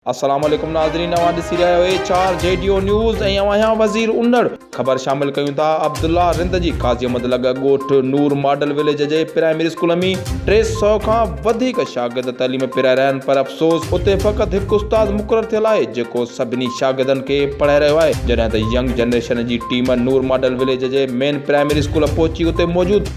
السلام عليڪم ناظرين اوهان ڏسي رهيا آهيو ايچ آر جيڊيو نيوز ۽ اوهان آهيان وزير اونڙ خبر شامل ڪيون ٿا عبدالله رند جي قاضي احمد لڳ ڳوٺ نور ماڊل وليج جي پرائمري اسڪول ۾ ٽي سؤ کان وڌيڪ شاگرد تعليم پيرائي رهيا آهن پر افسوس اتي فقط هڪ استاد مقرر ٿيل آهي جيڪو سڀني شاگردن کي پڙهائي رهيو آهي جڏهن ته ينگ جنريشن جي ٽيم نور ماڊل وليج جي مين پرائمري اسڪول پهچي اتي موجود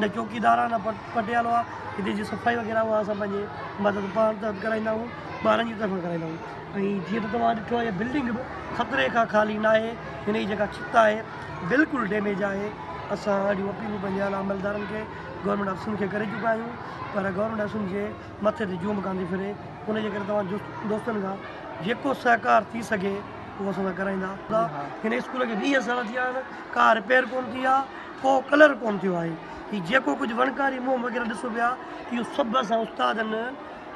نه چوڪيدار آ نه پٽيالو آ هتي جي صفائي وغيره اها اسان پنهنجي مدد پاڻ تحت ڪرائيندا آهيون ٻارن جي طرفان ڪرائيندا آهيون ۽ جيئن ته توهان ڏٺو آهي هي بلڊنگ به خطري کان خالي نه آهي هن جي جيڪا ڇت آهي بلڪل ڊيميج آهي اسان اهڙيون اپيلون پنهنجي اعليٰ عملدارن کي گورنمينٽ آفيسرن کي ڪري چڪا آهيون پر گورنمينٽ آفيسرن جي مٿي تي جون به ڪانه ٿي ڦري ان جي ڪري توهان جو دوستن کان جيڪو سهڪار ٿي سگهي اهو اسان سان ڪرائيندا هن اسڪول کي ويهه سال ٿي ويا آهن ڪا رپيئر ڪونه ٿي آ ڪو ڪلر ڪون ٿيو آهي. هي جيڪو ڪجهه وڻڪاري موم وغيره ڏسو پيا اهو سڀ اسان استادن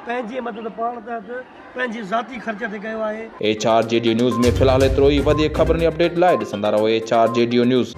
پنهنجي مدد پاڻ تحت پنهنجي ذاتي خرچ تي ڪيو آهي. H R J DU news ۾ في الحال ايترو ئي وڌيڪ خبرن ۽ اپڊيٽ لاء ڏسندا رهو H R J DU news.